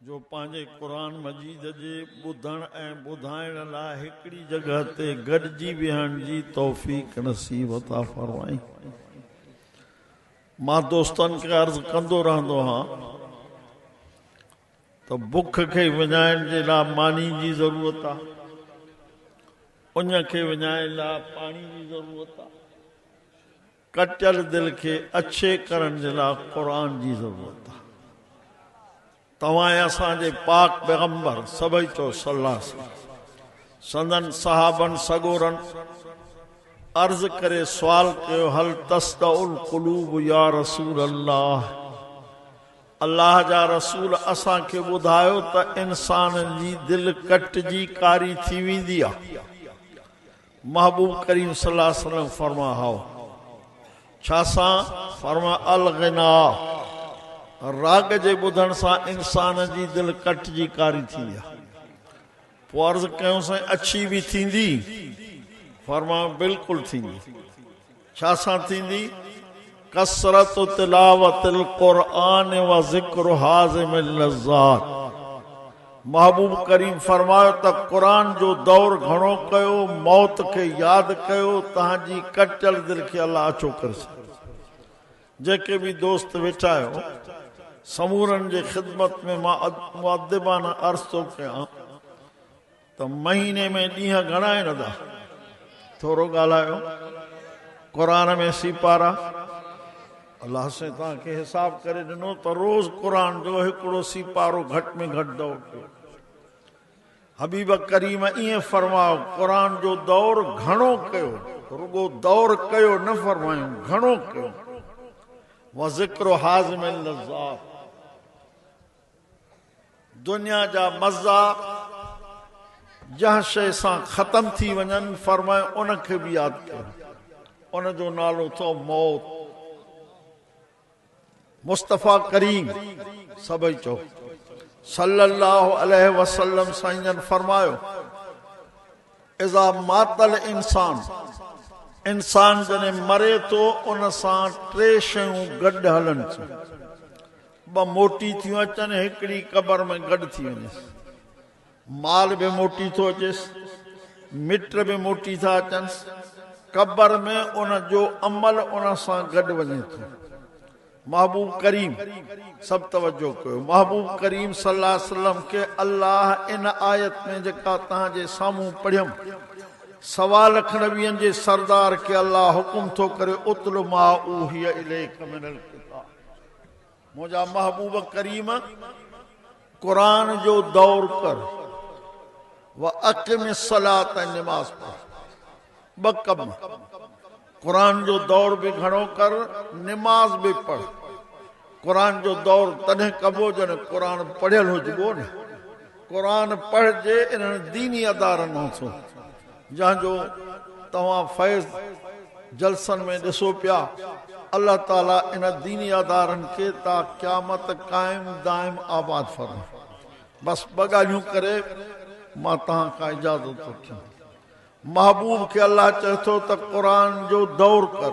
جو پنهنجي قرآن مجيد جي ٻڌڻ ۽ ٻڌائڻ لاء هڪڙي جڳهه تي گڏجي ويهڻ جي توفيق نصيب عطا فرمائين. مان دوستن کي عرض ڪندو رهندو هان ته بک کي وڃائڻ جي لاء ماني جي ضرورت آ، اڃ کي وڃائڻ لاء پاڻي جي ضرورت آ. ڪٽيل دل کي اڇي ڪرڻ جي لاء قرآن جي ضرورت آهي. توهان ۽ اسان جي پاڪ پيغمبر سڀئي چؤ صلّي الله عليه وسلّم سندن صحابن سڳورن عرض ڪري سوال ڪيو هل تصدع القلوب يا رسول الله الله جا رسول اسان کي ٻڌايو ته انسانن جي دل ڪٽجي ڪاري ٿي ويندي آهي. محبوب ڪريم صلي الله عليه وسلم فرمان هائو ڇا سان؟ فرمان الغنا راڳ جي ٻڌڻ سان انسان جي دل ڪٽ جي ڪاري ٿيندي آهي. پوء عرض ڪيون سائين اڇي به ٿيندي؟ فرمان بلڪل ٿيندي. ڇا سان ٿيندي؟ ڪثرت تلاوت القرآن و ذڪر هاضم اللذات محبوب ڪريم فرمايو ته قرآن جو دور گهڻو ڪيو، موت کي ياد ڪيو، تهان جي ڪٽيل دل کي الله اڇو ڪري ڇڏيندو. جيڪي به دوست ويٺا آهيو سمورن جي خدمت ۾ مان مؤدبانه عرض ٿو ڪيان ته مهيني ۾ ڏينهن گهڻا آهن ادا ٿورو ڳالهايو قرآن ۾ سيپارا الله سائين توهان کي حساب ڪري ڏنو ته روز قرآن جو هڪڙو سيپارو گهٽ ۾ گهٽ دور ڪيو حبيب ڪريم ائين فرمايو قرآن جو دور گهڻو ڪيو رڳو دور ڪيو نه فرمايو گهڻو ڪيو وذڪر حازم اللذات دنيا جا مزا جنهن شيء سان ختم ٿي وڃن، فرمايو ان کي به ياد ڪيو. ان جو نالو اٿو موت. مصطفيٰ ڪريم سڀئي چئو صلّي اللّٰه عليه وسلّم سائين جن فرمايو، اذا مات الانسان، انسان جڏهن مري ٿو ان سان ٽي شيون گڏ هلن ٿيون، ٻه موٽي ٿيون اچن ۽ هڪڙي قبر ۾ گڏ ٿي وڃيس. مال به موٽي ٿو اچيس، مٽ به موٽي ٿا اچنس، قبر ۾ ان جو عمل ان سان گڏ وڃي ٿو. محبوب ڪريم، سڀ توجه ڪيو، محبوب ڪريم صلي الله عليه وسلم کي الله ان آيت ۾ جيڪا توهان جي سامهون پڙهيم، سوا لک نبين جي سردار کي الله حڪم ٿو ڪري، اتل ما اوحي اليک من الڪتاب. منهنجا محبوب ڪريم قرآن جو دور ڪر و اقم الصلاة ۽ نماز پڙھ ٻه ڪم قرآن جو دور به گهڻو ڪر نماز به پڙھ قرآن جو دور تڏهن ڪبو جڏهن قرآن پڙهيل هجبو نه قرآن پڙهجي انهن ديني ادارن مان ٿو جنهن جو توهان فيض جلسن ۾ ڏسو پيا الله تعالي ان ديني ادارن کي تا قيامت قائم دائم آباد فرمائي بس ٻه ڳالهيون ڪري مان تهان کان اجازت ٿو ٺيون محبوب کي الله چئي ٿو ته قرآن جو دور ڪر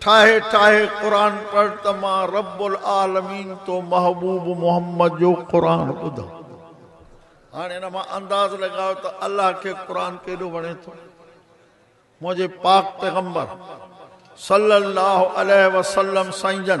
ٺاهي ٺاهي قرآن پڙهه ته مان رب العالمين تو محبوب محمد جو قرآن ٻڌان. هاڻي ان مان انداز لڳايو ته الله کي قرآن ڪيڏو وڻي ٿو. منهنجي پاڪ پيغمبر صلّي اللّٰه عليه وسلّم سائين جن.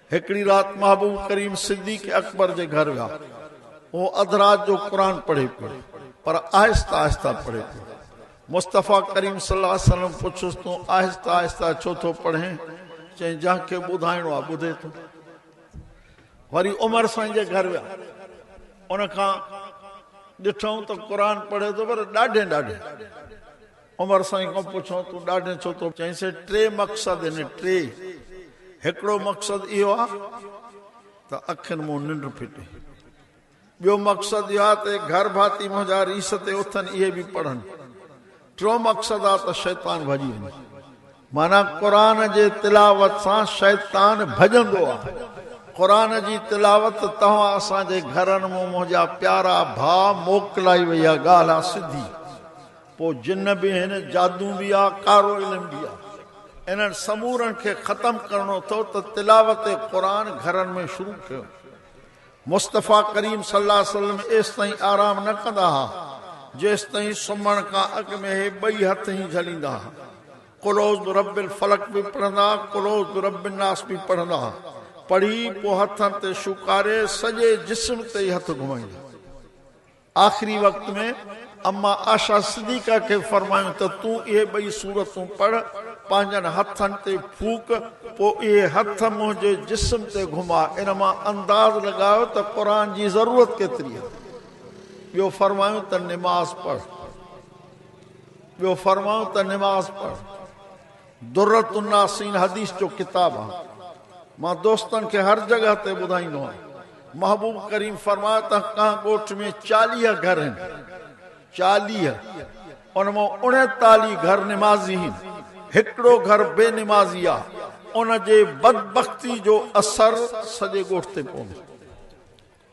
هڪڙي رات محبوب ڪريم صديق اڪبر جي گهر ويا. هو اڌ رات جو قرآن پڙهي پيو، پر آهسته آهسته پڙهي پيو. مصطفيٰ ڪريم صلي الله عليه وسلم پڇيس تون آهسته آهسته ڇو ٿو پڙهين؟ چيائين جنهن کي ٻڌائڻو آهي ٻڌي ٿو. وري عمر سائين جي گهر ويا. ان کان ڏٺائون ته قرآن پڙهي ٿو پر ڏاڍين ڏاڍين. عمر سائين کان پڇيو تون ڏاڍين ڇو ٿو. چيائينسي ٽي مقصد هن ٽي هڪڙو مقصد اهو آ ته اکين مون ننڊ ڦٽي ٻيو مقصد اهو آ ته گهر ڀاتي منهنجا ريس تي اٿن اهي به پڙهن ٽيون مقصد آ ته شيطان ڀڄي وڃي. معنيٰ قرآن جي تلاوت سان شيطان ڀڄندو آ قرآن جي تلاوت توهان اسان جي گهرن مون منهنجا پيارا ڀاء موڪلائي وئي آ ڳالهه آ سڌي. پوء جن به آهن، جادو به آ، ڪارو علم به آ. انهن سمورن کي ختم ڪرڻو اٿو ته تلاوت قرآن گهرن ۾ شروع ڪيو. مصطفيٰ ڪريم صلي الله عليه وسلم ايستائين آرام نه ڪندا ها، جيستائين سمهڻ کان اڳ ۾ اهي ٻئي هٿ هين جهليندا ها. قل اعوذ برب الفلق به پڙهندا، قل اعوذ برب الناس به پڙهندا. پڙهي، پوء هٿن تي شوڪاري، سڄي جسم تي ئي هٿ گهمائيندا. آخري وقت ۾ اما عائشه صديقه کي فرمايون ته تون اهي ٻئي سورتون پڙهه، پنهنجن هٿن تي ڦوڪ، پوء اهي هٿ منهنجي جسم تي گهما، ان مان انداز لڳايو ته قرآن جي ضرورت ڪيتري آهي. ٻيو فرمايون ته نماز پڙهه. ٻيو فرمايون ته نماز پڙهه. درة الناصين حديث جو ڪتاب آ مان دوستن کي هر جڳهه تي ٻڌائيندو آهيان محبوب ڪريم فرمايو ته ڪنهن ڳوٺ ۾ چاليهه گهر هين چاليهه ان مان اڻيتاليهه گهر نمازي هين هڪڙو گهر بي نمازي آ ان جي بدبختي جو اثر سڄي ڳوٺ تي پوندو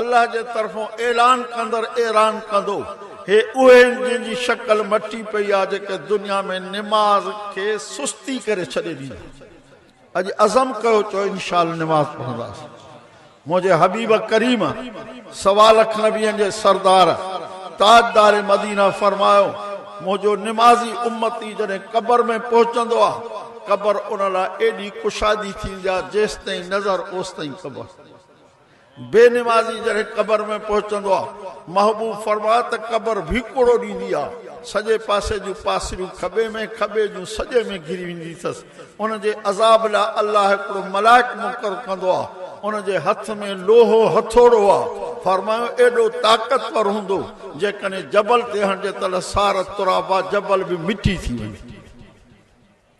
الله جي طرفون اعلان ڪندڙ اعران ڪندو، هي اهي آهن جن جي شڪل مٽي پئي آهي جيڪي دنيا ۾ نماز کي سستي ڪري ڇڏي ڏيندو. اڄ عزم ڪيو چئو انشاءالله نماز پڙهنداس. منهنجي حبيب ڪريم سوالخ نبين جي سردار تاجدار مدينه فرمايو، منهنجو نمازي امتي جڏهن قبر ۾ پهچندو آهي قبر ان لاء ايڏي ڪشادي ٿيندي آهي جيستائين نظر اوستائين قبر. بي نمازي جڏهن قبر ۾ پهچندو آ، محبوب فرماء ته قبر ڀيڪوڙو ڏيندي آ، سڄي پاسي جون پاسريون کٻي ۾ کٻي جون سڄي ۾ گهري ويندي ٿس، ان جي عذاب لاء الله هڪڙو ملائڪ مقرر ڪندو آ، ان جي هٿ ۾ لوهو هٿوڙو آ، فرمايو ايڏو طاقتور هوندو، جيڪڏهن جبل تي هڻجي ته لصار الترابا جبل به مٽي ٿي ويندو.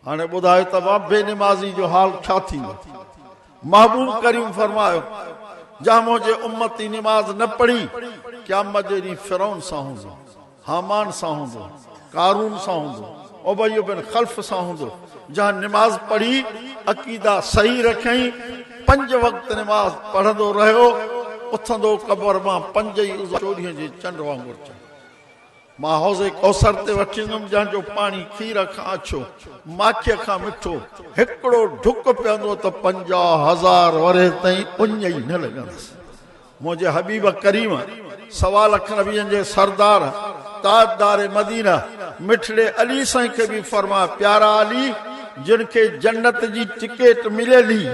هاڻي ٻڌايو ته اها بي نمازي جو حال ڇا ٿيندو؟ محبوب ڪريم فرمايو، جنهن منهنجي امتي نماز نه پڙهي، قيامت جي ڏينهن فرعون سان هوندو، هامان سان هوندو، قارون سان هوندو، ابي بن خلف سان هوندو، جنهن نماز پڙهي، عقيدا صحيح رکيائين، پنج وقت نماز پڙهندو رهيو، اٿندو قبر مان پنج ئي عضو چوڏهين جي چنڊ وانگر چمڪندو. مان حوض ڪوثر تي وٺي ايندم جنهن جو پاڻي کير کان اڇو، ماکيء کان مٺو، هڪڙو ڍڪ پيئندو ته پنجاهه هزار ورهيه تائين اڃ ئي نه لڳندس. منهنجي حبيب ڪريم، سوا لک نبين جي سردار، تاجدار مدينه، مٺڙي علي سائين کي به فرماء پيارا علي جن کي جنت جي ٽڪيٽ مليل هي،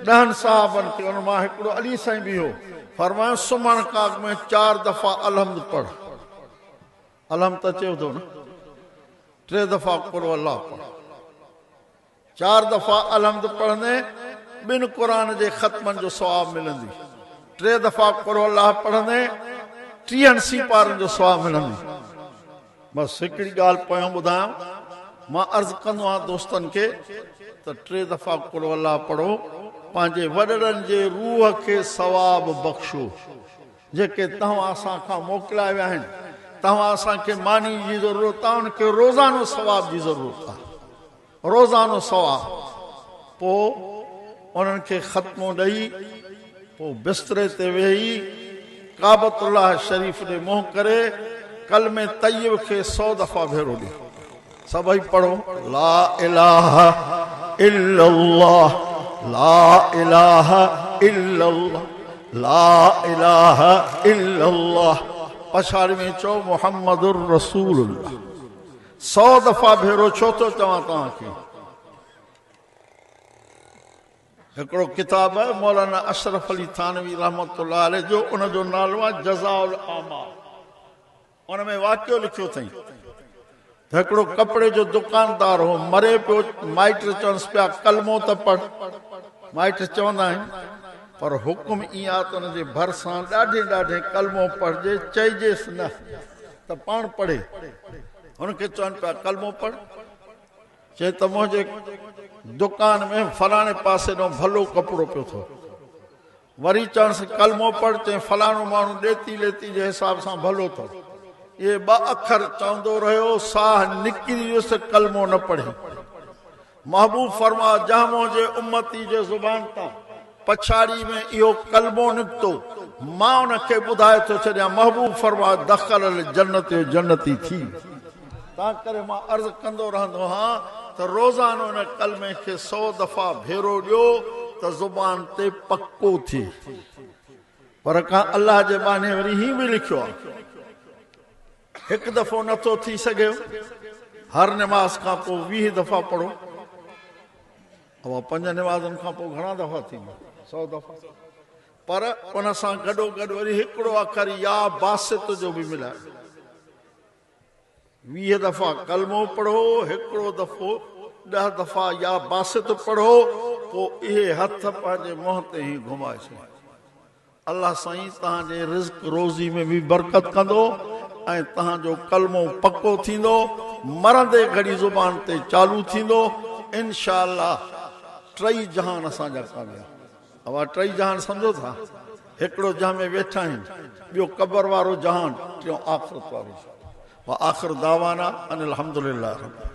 ڏهن صحابن کي، انهن مان هڪڙو علي سائين به هو، فرمايائون سمهڻ ڪاڳ ۾ چار دفعا الحمد پڙهه، الحمد ته چيو ٿو نه، ٽي دفعا قل هو الله پڙهه، چار دفعا الحمد پڙهندين ٻن قرآن جي ختمن جو ثواب ملندي، ٽي دفعا قل هو الله پڙهندين ٽيهن سيپارن جو ثواب ملندي. بس هڪڙي ڳالهه پويان ٻڌايان، مان عرض ڪندو آهيان دوستن کي ته ٽي دفعا قل هو الله پڙهو، پنهنجي وڏڙن جي روح کي ثواب بخشو، جيڪي توهان اسان کان موڪليا ويا آهن، توهان اسان کي ماني جي ضرورت آهي، ان کي روزانو ثواب جي ضرورت آهي. روزانو سوا پوء انهن کي ختمون ڏئي پوء بستري تي ويهي ڪعبت الله شريف ڏي منهن ڪري ڪلمي طيب کي سو دفعا ڀيرو ڏي. سڀئي پڙهو لا اله الا الله لا اله الا الله لا اله الا الله پڇاڙي ۾ چئو محمد رسول الله. سؤ دفعا ڀيرو ڇو ٿو چوان توهان کي. هڪڙو ڪتاب آهي مولانا اشرف علي ٿانوي رحمة الله عليه جو ان جو نالو آهي جزاء الاعمال ان ۾ واقعو لکيو اٿئين ته هڪڙو ڪپڙي جو دڪاندار هو مري پيو مائٽ چونس پيا ڪلمو ته پڙھ مائٽ چوندا آهن پر حڪم ايئن آهي ته ان جي ڀرسان ڏاڍي ڏاڍي ڪلمو پڙھجي چئجيس نه ته پاڻ پڙهي. هن کي چون پيا ڪلمو پڙهه. چئي ته منهنجي دڪان ۾ فلاڻي پاسي ڏانهن ڀلو ڪپڙو پيو ٿو. وري چانس ڪلمو پڙهه. چئي فلاڻو ماڻهو ڏيتي ليتي جي حساب سان ڀلو اٿو. اهي ٻه اکر چوندو رهيو. ساهه نڪري ويس ته ڪلمو نه پڙهي. محبوب فرما، جنهن منهنجي امتي جي زبان تان پڇاڙي ۾ اهو ڪلمو نڪتو، مان ان کي ٻڌائي ٿو ڇڏيان، محبوب فرما، دخل الجنت جو جنتي ٿي ويو. تنهنڪري مان عرض ڪندو رهندو هان ته روزانو ان ڪلمي کي سؤ دفعا ڀيرو ڏيو ته زبان تي پڪو ٿئي. پر ڪا الله جي ٻانهي وري هيئن به لکيو آهي. هڪ دفعو نه ٿو ٿي سگهي هر نماز کان پوء ويهه دفعا پڙهو اها پنج نمازن کان پوء گهڻا دفعا ٿيندا سؤ دفعا پر ان سان گڏو گڏ وري هڪڙو اکر يا باسط جو به ملائي ويهه دفعا ڪلمو پڙهو هڪڙو دفعو ڏه دفعا يا باسط پڙهو پوء اهي هٿ پنهنجي منهن تي هي گهمائي ڇڏيو الله سائين توهان جي رزق روزي ۾ به برڪت ڪندو ۽ توهان جو ڪلمو پڪو ٿيندو مرندي گهڙي زبان تي چالو ٿيندو انشاء الله ٽئي جهان اسان جا ڪامياب اوهان ٽئي جهان سمجهو ٿا هڪڙو جنهن ۾ ويٺا آهيون ٻيو قبر وارو جهان ٽيون آخرت وارو جهان واخر دعوانا ان الحمدلله رب العالمين.